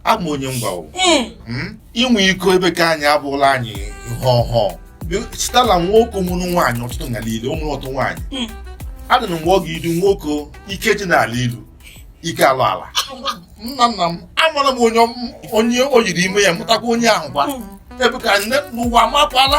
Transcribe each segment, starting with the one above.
abụ m onye ngwa o hmm. hmm? inwe iko ebe ka anyị abụla anyị ihe ọhụụ chitala nwoke mụrụ nwaanyị ọtụtụ ngala ile ụmụrụ ọtụ nwaanyị hmm. adị na mgbe ọ ga-edu nwoke ike ji n'ala ilu ike ala ala nna nna m amara m onye o yiri ime ya mụtakwa onye ahụ kwa ebe ka nne n'ụwa mapụala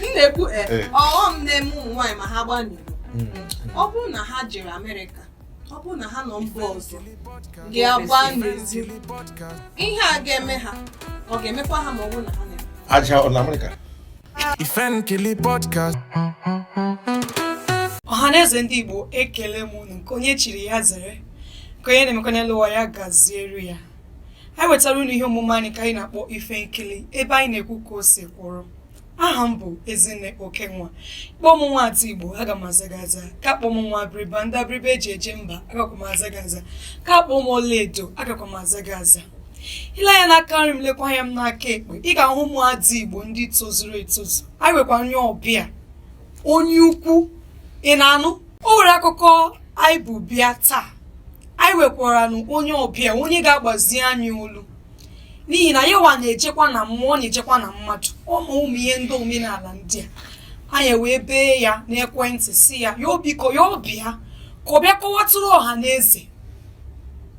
m na-ekwu eh, eh. ọghọm na-eme ụmụ nwaanyị ma ha gbaa n'iro hmm. ọ bụrụ na ha jere Amerịka ọ bụrụ na ha nọ mba ọzọ ga-agba n'ezi ihe a ga-eme ha ọ ga-emekwa ha ma ọ bụrụ na ha na-eme aja ọ na Amerịka Ifenkili podcast ọhaneze ndị Igbo ekele m unu nke onye chiri ya zere nke onye na-emekwa n'elu ụwa ya gaziere ya anyị wetara unu ihe omume anyị ka anyị na-akpọ ife nkili ebe anyị na-ekwu ka o si kwụrụ aha m bụ ezinne okenwa kpọọ m nwa ada igbo aga m aza gị aza ka kpọọ m nwa abịrịba ndị abịrịba e ji eje mba agakwa m aza gị aza ka kpọọ m ọlaedo agakwa m aza gị aza i lee anya n'aka nri m lekwa anya m n'aka ekpe ị ga-ahụ ụmụ ada igbo ndị tozuru etozu anyị nwekwa onye ọbịa onye ukwu ị na-anụ o nwere akụkọ anyị bu bịa taa anyị nwekwaranụ onye ọbịa onye ga-agbazi anyị olu n'ihi na yawa na-ejekwa na mmụọ na-ejekwa na mmadụ ọ ma ụmụ ihe ndị omenala ndị a anyị wee bee ya n'ekwentị sị ya ya biko ya bịa ka ọ bịa kọwatụrụ ọha na eze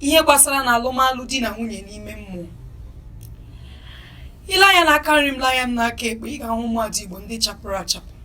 ihe gbasara na alụmalụ di na nwunye n'ime mmụọ i lee anya n'aka nri m lee anya m n'aka ekpe ị ga-ahụ ụmụada igbo ndị chapụrụ achapụ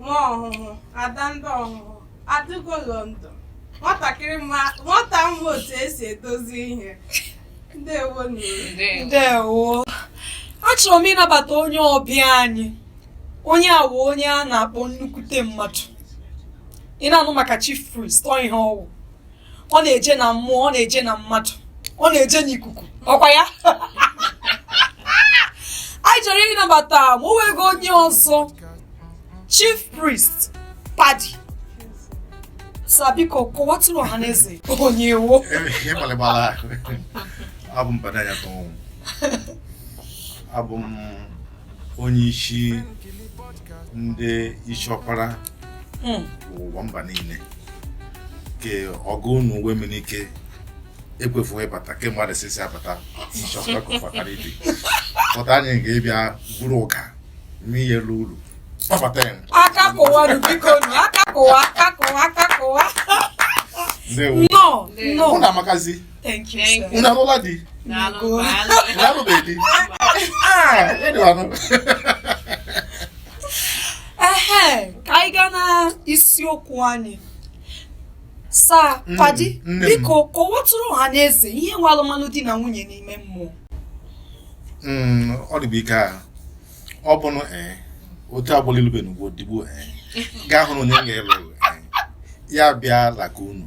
nwa ọhụhụ ada ndị ọhụhụ adaugo london nwata ma otu e si edozi ihe ndewo nne ndewo achọrọ m ịnabata onye ọbịa anyị onye a wụ onye a na-akpọ nnukwute mmadụ ị na-anụ maka chief priest ọ ihe ọ wụ ọ na-eje na mmụọ ọ na-eje na mmadụ ọ na-eje n'ikuku ọ kwa ya anyị chọrọ ịnabata ma o nweghị onye ọzọ chief priest paddy sir biko kọwatụrụ ọha na eze onye ị wụ abụ m paddy anyatọnwụ abụ m onye isi ndị isi ọkpara hmm. ụwa mba niile ka ọgụ unu uwe mmiri ike ekwefughị ịbata kemgbe adịsịsị abata nchọkọkọfataribi pụta anyị ga-ebịa buru ụka n'ihe elu ulu kpọbata ya aka kụwa biko aka kụwa aka kụwa aka kụwa nnọọ nnọọ Thank you, Thank sir. Unu alụọla di. Na no Go. Daalụ. Unu alụbeghị di. Ah, ele lá. Ehe, ka anyị gaa na isiokwu anyị. Sa, Mm, Paddy, nne m. biko kọwatụrụ ọha na eze ihe wụ alụmalụ di na nwunye n'ime mmụọ. Mm, ọ dị bụ ike a. ọ bụrụ ee eh, otu agbụla ilube na ugbo digbo ee eh, gaa hụrụ onye ga-alụ eh, ya bịa laka unu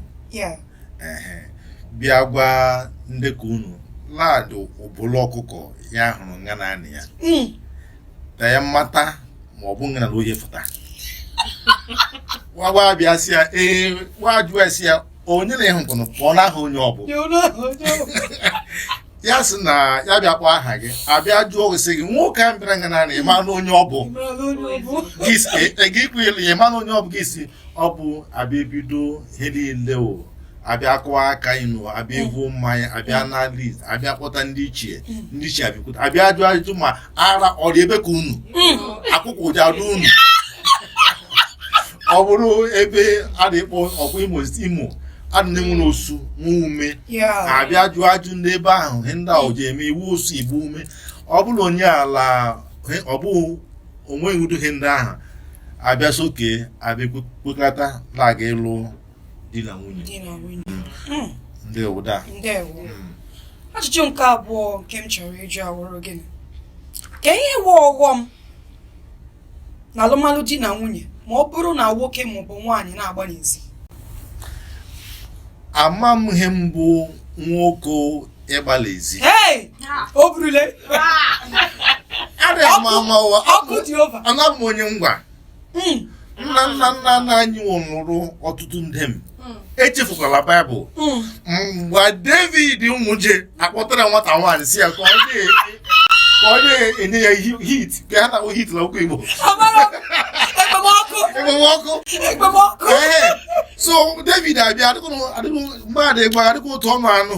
bịa gwa ndị ka unu laadụ ụbụlụ ọkụkọ ya hụrụ nga na anị ya hmm. ka ya mata ma ọ bụ nga na ohe fụta wagwa bịa si ya ee wajụwa si ya onye na-ehu mkpụnụ pụọ n'aha onye ọ bụ ya sị na ya bịa kpọọ aha gị abịa jụọ gị sị gị nwoke a bịara nga naanị ịma na onye ọ bụ gị si- e- e- gị kwụ elu ya ịma na onye ọ bụ gị si ọ bụ abịa ebido ihe niile o abịa kụwa aka inu abịa evu mmanya abịa na list abịa kpọta ndị ichie ndị ichie abịakwute abịa jụọ ajụjụ ma ara ọ dị ebe ka unu akwụkwụ ọ ji adụ unu ọ bụrụ ebe a na-ekpọ ọkwa imo imo a dị nwere osu nwee ume abịa jụọ ajụ n'ebe ahụ ihe ndị ahụ ji eme ị wụ osu ị bụ ume ọ bụrụ onye ala ọ bụ onweghị udo ihe ndị ahụ abịa soke abịa kwekọta na-aga ịlụ di na nwunye di na nwunye hmm. Hmm. ndewo da ndewo hmm. ajụjụ nke abụọ nke m chọrọ ịjụ awụrụ gịnị ka ihe wụ ọghọm na alụmalụ di na nwunye ma ọ bụrụ na nwoke maọbụ nwaanyị na-agba n'ezi ama m ihe mbụ nwoke ịgba l'ezi o burule ọkụ dị ova ana m onye ngwa hmm. nna nna nna nna anyị lụrụ ọtụtụ ndom hmm. echefukwala baịbụl hmm. mgbe david nwụje a kpọtara nwata nwaanyị si ya ka ọ na-enye ya heat ka ha na-akpọ heat na okwu igbo ekpemọkụ so david abịa adịghị mgbe adịghị gbaga adịghị otu ọnụ anụ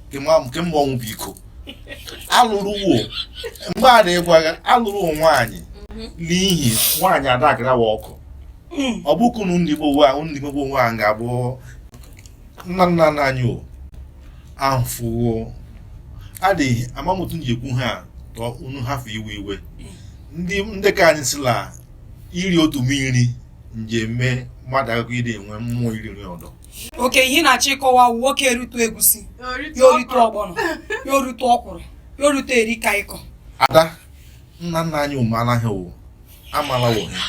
kemgbe ọnwụ bụ iko alụrụ wo mgbe a na-egwaghị alụrụ nwaanyị mhm. n'ihi nwaanyị adakara wa ọkụ hmm. ọ bụ kunu ndị Igbo nwa ndị Igbo nwa ga-abụ nna nna nna anyị o ahụfụwo adịghị amamotu ji ekwu ha tọọ unu hafụ iwe iwe ndị ndị ka anyị sị la iri otu nri ji eme mmadụ akụkọ ịdị enwe mmụọ iri nri ọdọ okay ihe na-achọ ịkọwa nwoke erutu egusi ya orutu ọgbọnọ ya orutu ọkwụrụ ya orutu edikang ikong ada nna nna anyị ụmụala ha wo amala wo ha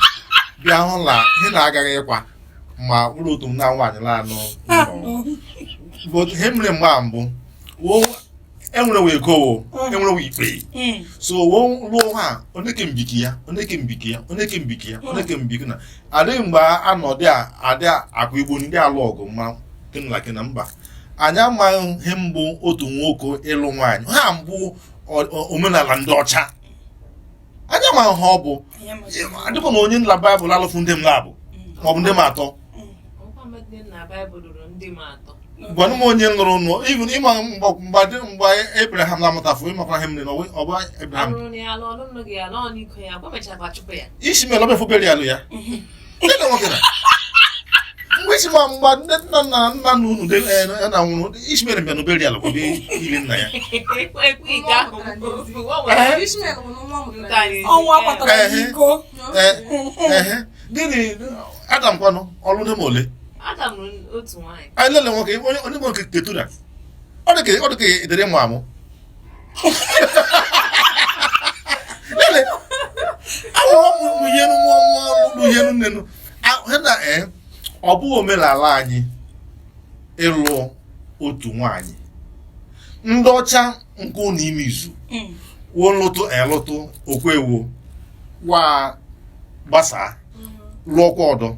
bịa hụ na ihe na-agaghị ịkwa ma ịlụ otu nna nwaanyị laanụ ọ bụ ihe mere mgbe mbụ wo enwere wo ego wo mm. enwere wo ikpe mm. so wo lụọ ha oneke mbiki ya oneke mbiki ya oneke mbiki ya mm. oneke mbiki na adịghị mgbe a nọ dị adị akụ igbo ndị alụ ọgụ ma kenlaki na mba anyị amaghị ihe mbụ otu nwoke ịlụ nwaanyị ha mbụ omenala ndị ọcha anyị amaghị ha ọ bụ adịkwa m onye la baịbụl alụfụ ndiom labụ ma ọ bụ ndiom atọ gwanụ m onye lụrụ nụ even ị ma mgbe mgbe Abraham na-amụtafụ ị makwa ihe mere na ọ bụ Abraham Ishmael ọ bụ efobere ya alụ ya mgbe isi ma mgbe ndị nna nna nna na unu na nwụrụ Ishmael bịa n'obere ya lụkwa ili nna ya ọnwa kpatara iko gịnị Adam kwanụ ọ lụ ndiom ole anyị lele nwoke onye nwoke Keturah ọ dị ka edere mụ amụ ọ bụghị omenala anyị ịlụ otu nwanyị ndị ọcha nke ụlọ ime izu mm. wo lụtụ elụtụ o kwe wo wo agbasaa mm. lụọkwa ọdọ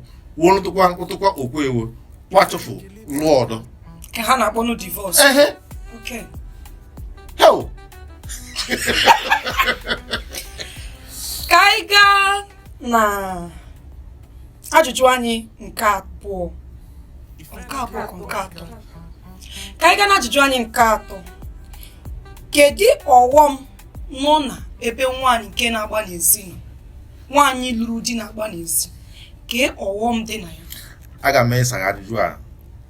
wo lụtụkwa lụtụkwa o kwe wo wo achụfụ lụọ ọdọ Ka ha na-akpọ nụ divorce. ehe Okay. heo Ka anyị gaa na ajụjụ anyị nke abụọ. Nke abụọ ka nke atọ. Ka anyị gaa na ajụjụ anyị nke atọ. Kedu ọghọm nọ na ebe nwaanyị nke na-agba n'ezi nọ? Nwaanyị lụrụ di na-agba n'ezi. Kee ọghọm dị na ya. aga m ịsa gị ajụjụ a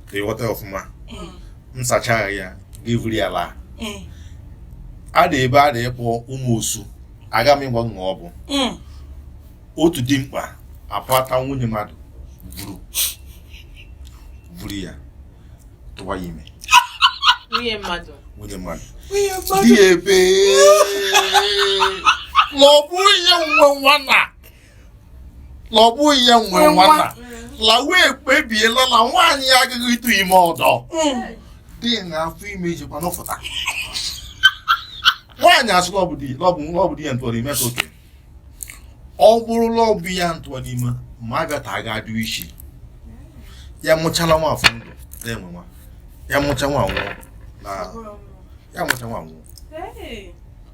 ka ị ghọta ọfụma mm. m sachara ya gị vuru ya laa mm. a dị ebe a na-akpọ Ụmụosu aga m ịgwa gị ihe ọ bụ mm. otu dimkpa apụta nwunye mmadụ vuru vuru ya tụwa ya ime nwunye mmadụ nwunye mmadụ dị ebe na ọ bụ ya nwe nwa na na ọ bụghị ya nwe Nwe nwa. nwanna lawa ekpebiela na nwaanyị ya agaghị ịtụ ime ọdọ dị na afọ ime ijikwa nọpụta nwaanyị asị na ọ bụ di na ọ bụ na ọ bụ di ya ntụọ n'ime ka okay ọ bụrụ na ọ bụ ya ntụọ n'ime ma a bịata aga adụ isi ya mụchala nwa afọ ndụ na-enwe nwa ya mụcha nwa nwụọ na ya mụcha nwa nwụọ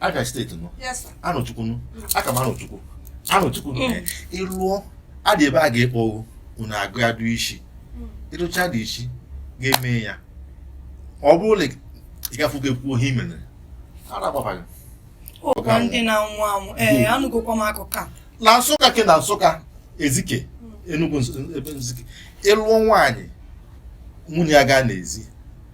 Abia steeti na Arọchukwu nụ aka m Arọchukwu Arọchukwu ịlụọ adị ebe a ga-ekpọ ogo unu aga adụ isi ị dụcha dị isi ga-eme ya ọ bụrụ na ị gafugo ekwu ihe i mere ara agbaba gị ọkwa ndị na-anwụ anwụ ee anụgokwa m akụkọ a na Nsụka ke na Nsụka Ezike Enugwu ebe Ezike ị lụọ nwaanyị nwunye ya gaa n'ezi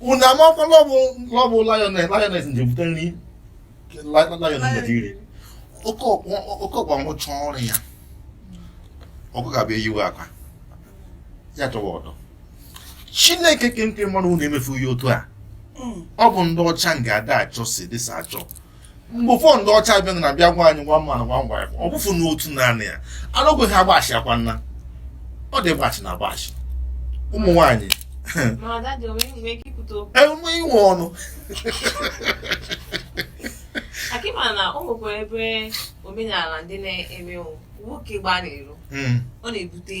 unu amakwa la ọ bụ lioness nje bute nri lion nje iri oke ọkpa rụcha ọrụ ya ọkụkọ abịa eyiwe akwa ya chọwa ọdọ Chineke kee nke mmadụ unu emefu ya otu a ọ bụ ndị ọcha nga ada achọ si dịsa achọ mgbe ụfọdụ ndị ọcha bịa na bịa gwa anyị one man one wife ọ bụfụ n'otu naanị ya anọgweghị agbachi akwa nna ọ dị gbachi na agbachi ụmụ nwaanyị enwe inwe ọnụ akịma na o nwekwa ebe omenala ndị na-eme nwoke gbaa n'iro hmm. ọ na-ebute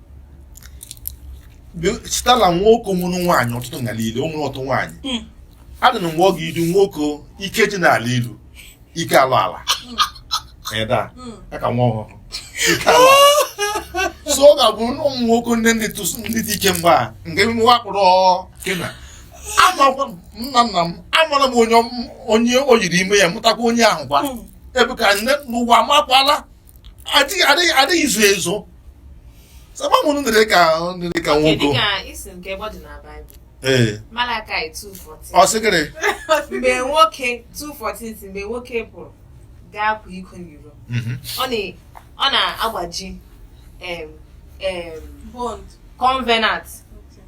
sitala nwoke nwere nwaanyị ọtụtụ n'ala ilu o nwere ọtụtụ nwaanyị Mm. adị na mgbe ọ ga-idu nwoke ike ji n'ala ilu ike alụ ala ịda Mm. ya ka nwa ọhụrụ ike alụ ala so ọ ga-abụ na ụmụ nwoke ndị ndị tụsụ ndị dị ike mgbe a nke emume wakpụrụ kena amakwa m, nna nna m amara m onye ọm- onye o yiri ime ya mụtakwa onye ahụ kwa Mm. ebe ka nne n'ụwa amakwala adịghị adịghị adịghị izu ezo Sabamu nu dere ka nu dere ka nwoke. Kedu ka isi nke ebe ọ dị na Baịbụl? Ee. Malakai 2:14. Ọ sị gịnị? Mgbe nwoke 2:14 si mgbe nwoke pụrụ gaa kwa iko n'iro, Mhm. ọ na- ọ na-agbaji em, em, Bond. covenant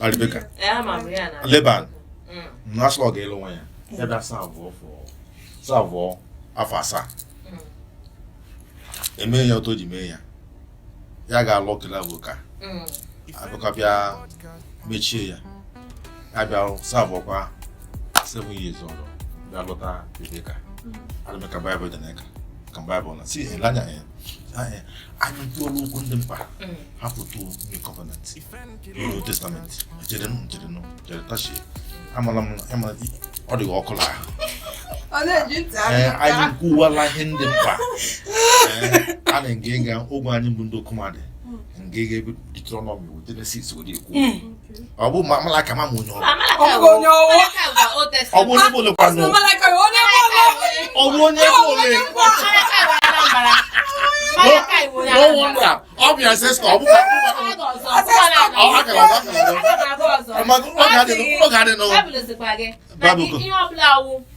Rebeka. Eh, ama m ya na. Leban. Mm. Na asị ọ ga-alụ nwa ya. Ya bịa serve for. Serve afọ asaa. Mm. Eme ya otu o ji mee ya. Ya ga-alụ kele abụka. Mm. Abụka bịa mechie ya. Ya bịa serve kwa seven years ọrụ. Bịa lụta Rebeka. Rebeka Baịbụl dị n'aka. Ka Baịbụl na si ele anya ya. anyị kwuo n'okwu ndị mkpa mm. hapụtụ new covenant new testament jerenụ jerenụ jere tachie amala m ọ dịghị ọkụ na ahụ anyị kwuwala ihe ndị mkpa a na nga ịga ogwe anyị bụ ndị okomandị nga ịga ebe Deuteronomy Genesis were ekwu ọ bụ Malakaị ma mụ onye ọ bụ onye ọwụ ọ bụ onye bụlụ kwanụ ọ bụ onye bụlụ n'ọnwụnta ọ bịa sị sị ọ bụ ọ ga-adị n'ụwa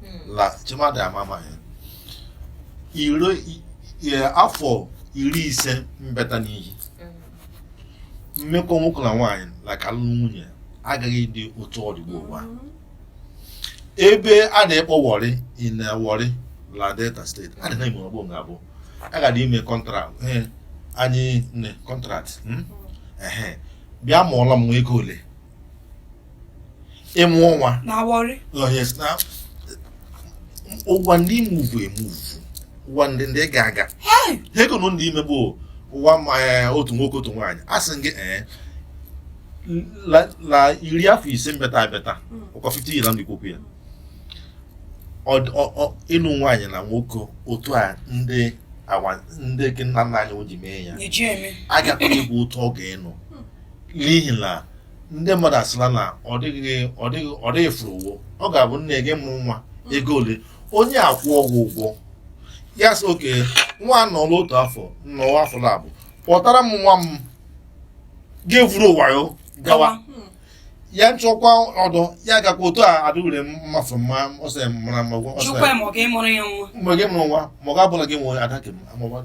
Hmm. la chimadị amama ya iro i- ya afọ iri ise mbeta n'ihi Hmm. mmekọ nwoke na nwaanyị like alụmdi nwunye agaghị dị otu ọ dị gbo ụwa ebe a na-ekpọ Warri in Warri la Delta State a dị na ime ọgbọ nga abụ a ga-adị ime contract ee anyị nne contract mm? ehe bịa mụọla m nwa ego ole ịmụ nwa na Warri Oh, yes, now, ụwa ndị imuvu emuvu ụwa ndị ndị ga aga Hey! ha ego na ndị ime bụ ụwa ma eh, otu nwoke otu nwaanyị a sị gị ee la la iri afọ ise mbeta abịata ụkọ 50 years ndị kwu okwu ya Ọ- ọ- ọ- ịlụ nwaanyị na nwoke otu a ndị awa ndị gị nna nna anyị o ji mee ya eji eme agakwa egwu otu ọ ga-enụ n'ihi na ndị mmadụ asịla na ọ dịghị ọ dịghị ọ dịghị furu ụgwọ ọ ga-abụ nne gị mụrụ nwa ego ole onye akwụọ gị ụgwọ ya sị okay nwa nọrọ otu afọ nnọọ afọ labụ kpọtara m nwa m gị vuru wayo gawa Hmm. ya nchọkwa ọdọ ya gakwa otu a adịwere mmafe mma ọsọ mara mma ọsọ jụkwa ma ọ ga-emụrụ ya nwa mgbe gị mụrụ nwa ma ọ ga-abụla gị nwere ada nke m amụba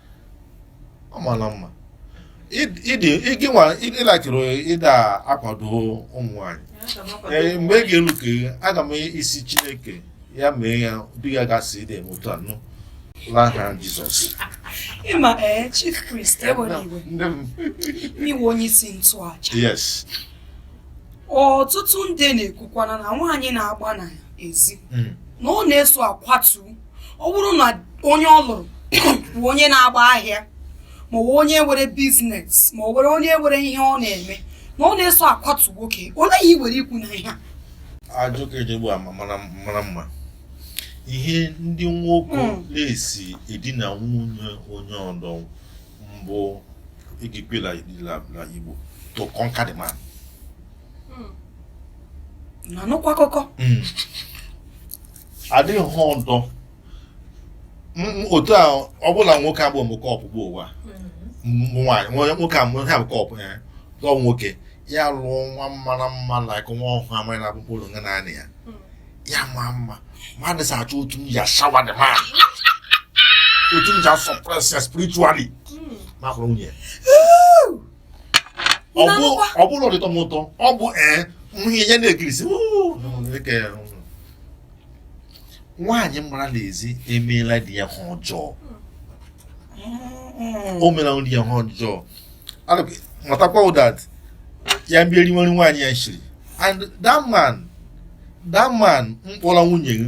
ọ mara mma ịlakịrị ịda akwado ụmụ nwanyị ee mgbe ị ga-elu ka aga m ịsị chineke ya mee ya di ya gasị dị eme otu anụ n'aha jizọs ịma ee chief priest ewere iwe n'iwe onye isi nchụaja yes ọtụtụ ndị na-ekwukwana na nwaanyị na-agba n'ezi hmm. na ọ na-eso akwatu ọ bụrụ na onye ọ lụrụ bụ onye na-agba ahịa ma ọ bụ onye nwere business ma ọ nwere onye nwere ihe ọ na-eme na ọ na-eso akwatu nwoke olee ihe i nwere ikwu na ihe a ajụ ka eji egbu ama mara mara mma ihe ndị nwoke Mm. na-esi edina nwunye onye ọdọ mbụ egikwela na igbo to conquer the man na-anụkwa akụkọ Mm. adịghị ihe ọdọ otu ọ bụla nwoke agbụ mbụ kọpụ bụ ụwa nwaanyị nwoke a ha bụ kọpụ ya dọ nwoke ya lụọ nwa mara mma like nwa ọhụrụ amaghị na akpụkpọ ụlọ nga naanị ya ya maa mma mmadụ sa achọ otu m ya shawa the man otu m ja suppress ya spiritually ma hụrụ nwunye ọ bụrụ ọdịtọ m ụtọ ọ bụ ee nwunye ya na-ekirisi nwaanyị gbara n'ezi emeela di ya ihe ọjọọ o meela di ya ihe ọjọọ matakwa that ya bịa riwere nwaanyị ya sịrị and that man that man mkpọrọ nwunye gị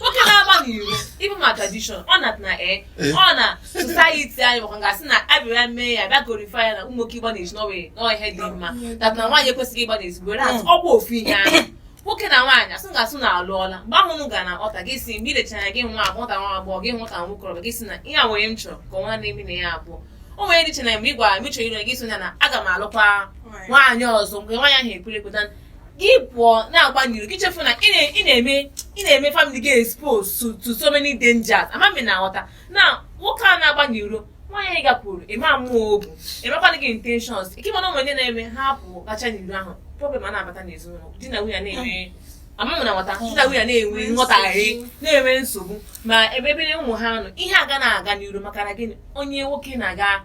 nwoke na-agba n'iro even ma tradition ọ na na e ọ na society anyị makwa gasị na abịara mee ya bịa glorify ya na ụmụ nwoke ịgba n'ezi na ọ wụ na ọ wụ ihe dị mma that na nwaanyị ekwesịghị ịgba n'ezi whereas ọ bụ ofu ihe ahụ nwoke na nwaanyị asị gasị na alụọla mgbe ahụ unu ga na ọta gị si mgbe ilechara gị nwata nwa agbọghọ gị nwata nwokorobịa gị sị na ihe a nwere m chọrọ ka ọnwa na-eme na ya abụọ o nwere ndị che na mgbe ị gwara m ịchọrọ ire gị sị ya na aga m alụkwa nwaanyị ọzọ mgbe nwaanyị ahụ ekwere ekweta gị pụọ na-agba n'iro gị chefu na ị na- ị na-eme ị na-eme family gị expose to, to so many dangers ama m ị na-aghọta na nwoke a na-agba n'iro nwaanyị gakwuru ịma mmụọ obu ịmakwana gị intentions ike mana ụmụ ndị na-eme ha pụọ gachaa n'iro ahụ problem a na-abata n'ezinụlọ di na nwunye na-enwe ama m ị na-aghọta di na nwunye na-enwe nghọtahie na-enwe nsogbu ma ebe obere ụmụ ha nọ ihe aga na-aga n'iru maka na gịnị onye nwoke na-aga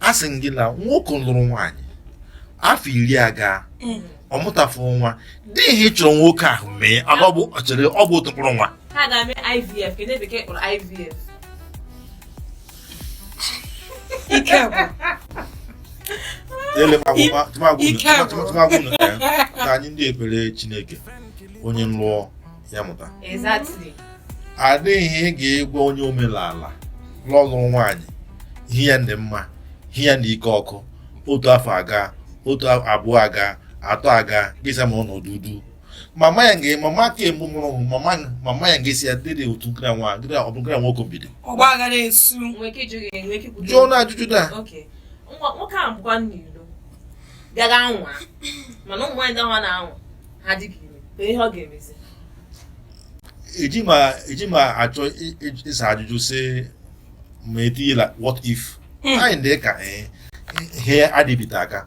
a sị m gị na nwoke lụrụ nwaanyị afọ iri aga Mm. ọ mụtafụ nwa dị ihe ị chọrọ nwoke ahụ mee ana ọ bụ ọ chere ọ bụ otu mkpụrụ nwa ha ga-eme ivf ka ndị bekee kpọrọ ivf ike agwụ ele Ike agwụ. tụmadị na anyị ndị ekpere chineke onye lụọ ya mụta adịghị ị ga-egwa onye omenala lụrụ nwaanyị ihe ya dị mma ihe ya dị ike ọkụ otu afọ aga otu abụọ aga atọ aga gị sị m nọdụ ọdụ mama ya nge mama ka emu mụrụ hụ mama mama ya ga-asị ya dịrị otu nkira nwa nkira ọ bụ nkira nwoke ebido jụọ na ajụjụ that nwoke a bụkwa n'iro gara anwa mana ụmụ nwaanyị ndị ahụ na-anwa ha dị ka ire ka ihe ọ ga-emezi eji m achọ ịsa ajụjụ sị m etinyela what if hmm. anyị dị ka eh, ihe adịbite aka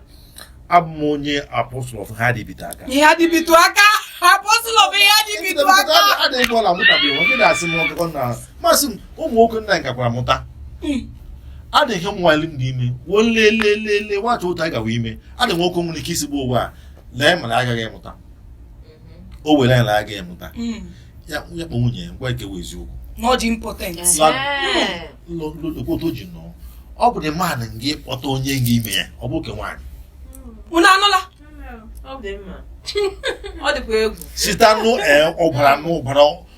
abụ m onye apostle of ihe adịbite aka ihe adịbite aka apostle of ihe adịbite aka adịghị ọla mụtabeghị nwoke na-asị m ọgụgọ na masị m ụmụ nwoke nna anyị gakwara mụta hmm. adịghị m nwale m dị ime woo lelelele nwacha ụta gawa ime adịghị nwoke nwere ike isigbu ụwa a lee mana agaghị amụta o were ya na agaghị amụta ya ya kpọ nwunye ya ngwa ekewa eziokwu Not the impotent. otu o ji nọ ọ bụ na mmadụ nga ịkpọta onye nga ime ya ọ bụ ke nwaanyị Unu anụla? Ọ dị mma. Ọ dịkwa egwu. site anụ ee ọbara n'ụbara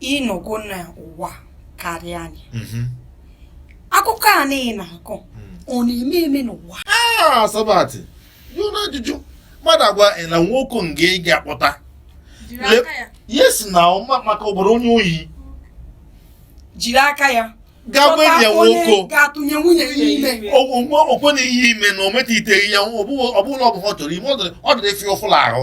ị nọgo n'ụwa karịa anyị mhm. akụkọ a niile na-akọ hmm. ọ na-eme eme n'ụwa ah, sabat jụọ n'ajụjụ mmadụ agwa na nwoke nga ị ga-akpọta yes na maka ọ bụrụ onye oyi jiri aka ya gaa gwa enyi ya nwoke ga-atụnye nwunye ya ime okwe na ihe ime na o metiteghị ya ọ bụla ọ bụ ha chọrọ ime ọ dịrị efi ọfụla ahụ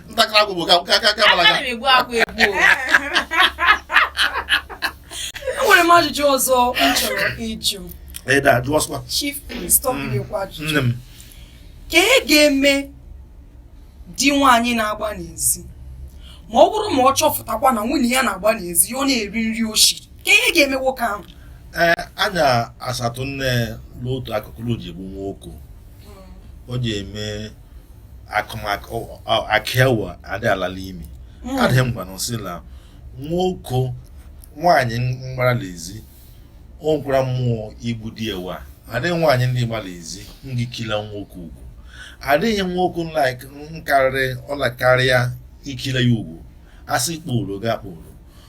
ntakịrị akwụ bụ ka ka ka ka balaga Ana m egbu akwa egbu o. enwere m ajụjụ ọzọ m chọrọ ịjụ ịda jụọsịkwa chief priest ọ bụghịkwa ajụjụ nne m kee ihe ga-eme di nwaanyị na-agba n'ezi ma ọ bụrụ ma ọ chọpụtakwa na nwunye ya na-agba n'ezi ya ọ na-eri nri o shi kee ihe ga-eme nwoke ahụ ee anya asatụ nne n'otu akụkụ na o ji egbu nwoko o ji eme akụmakụ akịawa adị alala imi hmm. adịghị mgbanụ sị na nwoke nwaanyị mgbara n'ezi o nwekwara mmụọ igbu di ewa adịghị nwaanyị ndị gbara ezi nga ikila nwoke ụgwọ adịghị nwoke nkarịrị ọla karịa ikila ya ụgwọ asị kpụrụ ga kpụrụ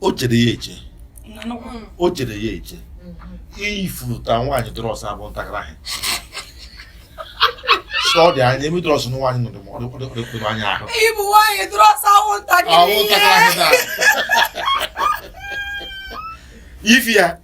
o chere ya eche o chere ya eche ifuta nwaanyị drọs abụ ntakịrị ahụ sọ dị anya emi drọs na nwaanyị nọ dị anya ahụ ịbụ nwaanyị drọs awụ ntakịrị ihe ifi ya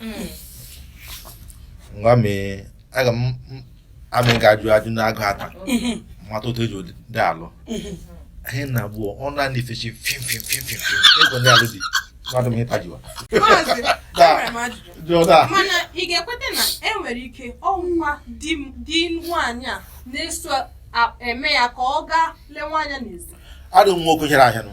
hmm. ngwa mee aga m amị ga-ajụ ajụ n'agụ ata mata otu eji dị alụ anyị na abụọ ọ naanị ifechi fim fim fim fim fim ego ndị alụ dị mmadụ m ịta jiwa mana ị ga-ekweta na enwere ike ọ wụ di nwaanyị a na-eso eme ya ka ọ gaa lee nwaanyị n'ezi adụ nwa oke chere ahịa nụ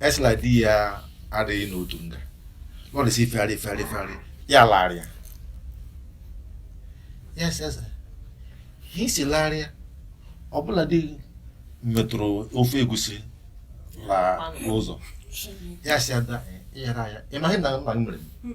a sị la di ya adịghị n'otu nga ọ dị sị ifegharị ifegharị ifegharị ya larịa ya sịasa ha isi larịa ọbụla dị metụrụ ofe egusi la ụzọ ya sị ada ịyara ya ị maghị na nna m mere m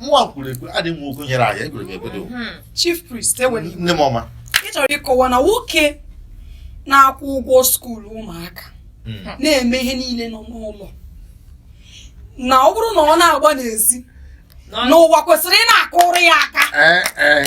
nwa kwuru ekwe adị nwa okwu nyere anyị egwere m ekwe dị hmm. chief priest enwere nne m ọma ị chọrọ ịkọwa na nwoke na-akwụ ụgwọ school ụmụaka hmm. na-eme ihe niile nọ n'ụlọ na ọ bụrụ na ọ na-agba n'ezi na ụwa kwesịrị ịna-akụrụ ya aka eh, eh.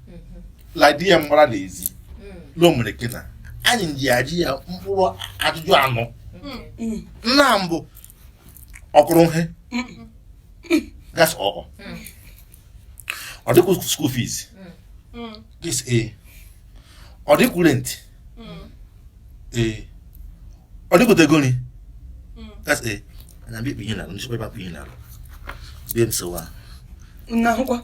la di ya mgbara n'ezi lomere kena anyị ji ajụ ya mkpụrụ ajụjụ anọ nna mbụ o kwuru ihe that's ọkọ ọ dị akwụ school fees this a ọ dị akwụ rent ee ọ dị akwụta ego nri that's a na mbe ikpe ihe na alụ ndị chekwa ịbapụ ihe na alụ bie m sowa na ahụkwa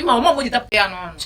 ịma ọmụmụ ji tapụ ya n'ọnụ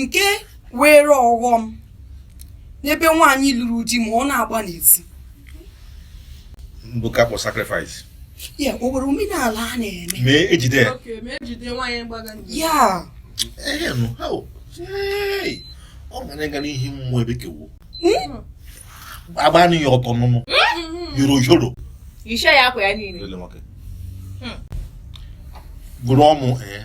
nke were ọghọm n'ebe nwaanyị lụrụ di ma ọ na-agba n'ezi mbuka kpọ sacrifice ya o nwere omenala a na-eme ma e jide ya ya ọ ga na-aga n'ihu mmụọ ebe kewo hmm? agbanụ ya ọtọ nụnụ hmm. yoro yoro ishe ya akwa ya niile hmm. gụrụ ọmụ ee eh.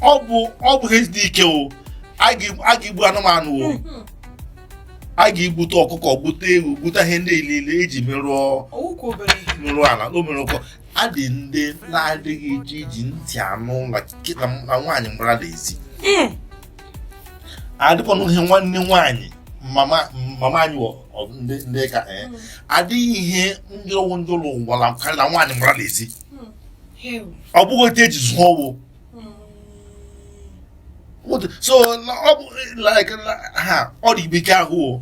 ọ bụ ọ bụ ihe dị ike o a ga-egbu anụmanụ o hmm. a ga-egbute ọkụkọ gbute ewu gbute ihe ndị niile eji merụọ merụọ ala o mere ụkọ a dị ndị na-adịghị eji iji ntị anụ na nwaanyị gbara na ezi hmm. adịkwanụ ihe nwanne nwaanyị mama anyị ndị ka eh, hmm. adịghị ihe jọrọ njọ l'ụwa karịa nwaanyị gbara na ezi ọ bụghị otu eji zụọ ọwụ so ọ bụ like ha ọ dị ibeke ahụ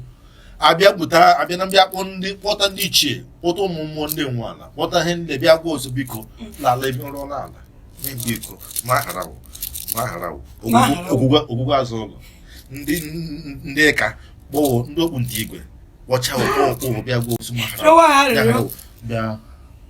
abịa bute abịa na bịa kpọ ndị kpọta ndị ichie kpọta ụmụ mmụọ ndị nwe ala kpọta ihe ndị bịa gwa wo sị biko n'ala ebe ọ rụrụ ala biko gbaghara wo gbaghara wo ogwugwu azụ ụlọ ndị ndị ka kpọ wo ndị okpu ndị igwe kpọcha wo kpọ wo kpọ wo bịa gwa wo sị gbaghara wo bịa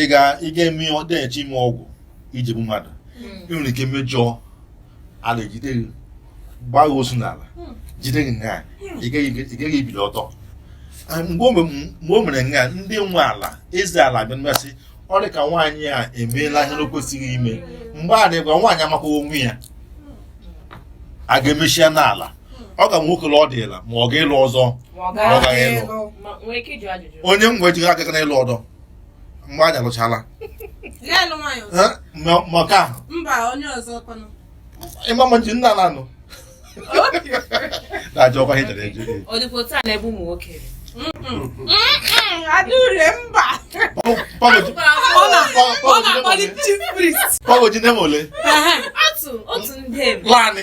ị ga-eme ọ dịghachi ime ọgwụ iji gbu mmadụ hmm. ị nwere ike mejọọ ala ejide gị gbaa gị ozu n'ala hmm. jide gị nga hmm. ị gaghị ibili ọtọ ah, mgbe o mere nga ndị nwe ala eze ala bịa ma sị ọ dị ka nwaanyị a emeela ihe o kwesịghị ime mgbe a dịgwa nwaanyị amakwa onwe ya a ga-emechi ya n'ala ọ ga nwoke ọ dịla ma ọ ga-ịlụ ọzọ onye m wee jighị aka na ịlụ ọdọ mgbe anyị alụchala maka ịma ma nji nna na anụ na-ajụ ọkwa ihe jere eje Pọgo ji nne m ole? Otu ndị. Lanị.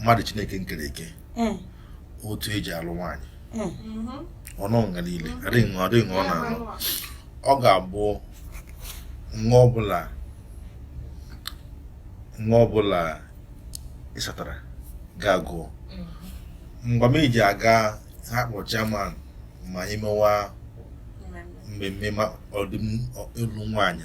mmadụ chineke nkere eke eh. otu eji alụ nwaanyị eh. mhm. ọ nọ nga niile adịghị ọ dịghị ọ na-alụ ọ ga-abụ nwa ọbụla nwa ọbụla ịsatara ga-agụ mhm. mgbe m eji aga ha kpọ chairman ma anyị mewa mmemme ma ọdịm ịlụ nwaanyị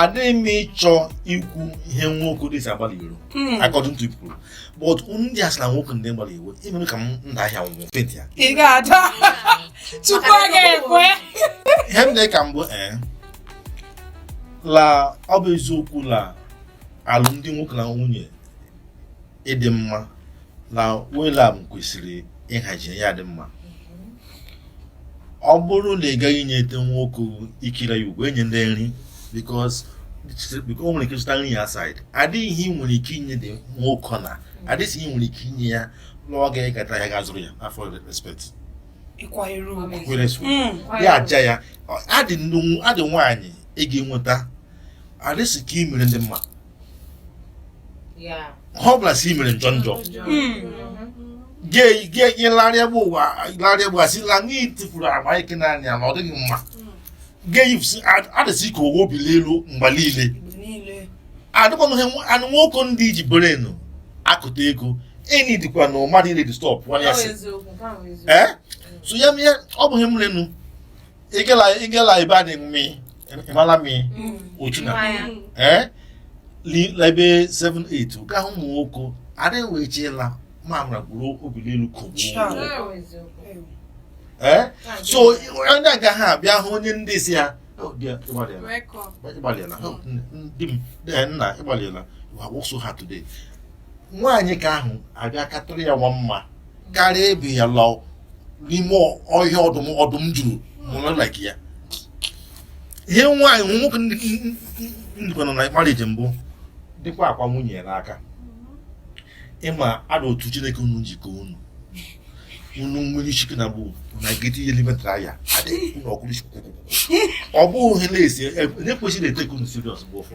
adịghị m ịchọ ikwu ihe nwoke dị si agba l'iro hmm. according to people but ndị a sị la nwoke ndị gbalị iwe imere ka m nda ahịa nwụọ penti ya ị ga-ada tupu a ga-ekwe ihe m na-eka mbụ ee eh, la ọ bụ eziokwu la alụmdi nwoke na nwunye ịdị mma na Whelan kwesịrị ịhazi ya dị mma ọ bụrụ na ị gaghị inyete nwoke ikiri ya ugwu enye ndị nri because o nwere ike zụta nri ya outside adịghị ihe ị nwere ike inye di nwoke na adịghị ihe ị nwere ike inye ya lụọ ga ịkata ya ga zụrụ ya afọ respect hmm. ya aja ya adị nwaanyị ị ga-enweta adịsị ka ị mere ndị mma ọ bụla si mere njọ njọ gị larịa bụ ụwa larịa bụ asị la n'ihi tifuru agba ike naanị ya na ọ dịghị mma geyipsi adịsị ka owo bili elu mgbe niile adịkwanụghị anụ nwoke ndị iji brain akụta ego enyi dịkwa na mmadụ ile disturb nwanne ya sị ee so ya mee ọ bụghị mrenu igela igela ibe anyị mmi ịmala mmi ochu na ee la ebe 78 gaa ụmụ nwoke adịghị wee chee la mamara gburu obili elu kogbuo ee so onye agaghị abịa hụ onye ndị sị ya "Oh, dear, ịgbalịala Record. ịgbalịala Oh, nne- di m eh, nna ịgbalịala you are work so hard today nwaanyị ka ahụ ga-akatụrụ ya nwa mma karịa ebe ya lọ n'ime ọhịa ọdụm ọdụm juru mụrụ like ya ihe nwaanyị hụ nwoke ndịkwa nọ na marriage mbụ dịkwa akwa nwunye ya n'aka ịma ada otu chineke unu njikọ unu unu nwere isi na bụ na get ihe n'ime traya adịghị unu ọkụrụ isi ọ bụghị ihe na-esi na-ekwesịrị e-take unu serious bụ ụfọ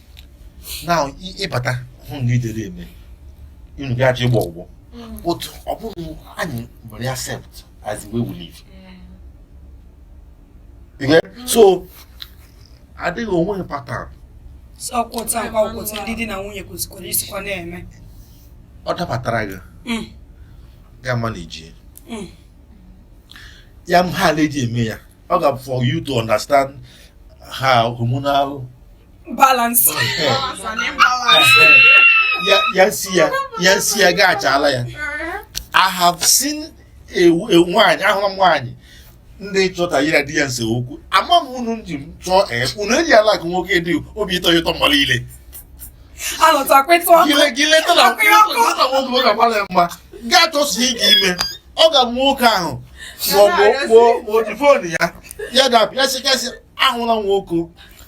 now ịbata hụ na idere eme unu ga-eje ịgba ọgwụ but ọ bụrụ anyị nwere accept as we will live so adịghị enwe pattern ọkwụta mkpa ọkwụta ndị di na nwunye kwesịkwara isikwa na-eme ọ dabatara gị mm. ga ma na ijie mm. ya mhala eji eme ya ọ ga for you to understand how hormonal balance ya si ya ya si ya gaa achala ya I have seen a nwaanyị ahụrụ m nwaanyị ndị chọta ya di ya nse okwu ama m unu ji m chọọ ee unu eji ala gị nwoke dị obi ịtọ ya ụtọ mmadụ ile gị leta na nwoke nwoke agbala ya mma gaa chọsie ike ime ọ ga nwoke ahụ maọbụ kpọọ phone ya ya dapụ ya sị kasị ahụla nwoke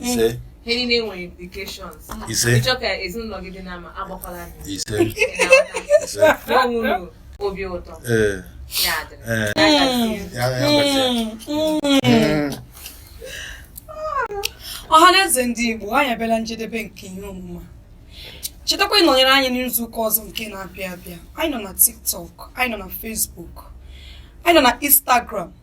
ise ihe niile nwere implications ise ịchọ ka ezinụlọ gị dị mma agbakwala gị ise ise ma o nwere obi ụtọ ee ya adịrị ee ya ya gbasịa. ọhaneze ndị igbo anyị abịala njedebe nke ihe omume a. chetakwa ịnọnyere anyị n'izu ụka ọzọ nke na-abịa abịa anyị nọ na tiktok anyị nọ na facebook anyị nọ na instagram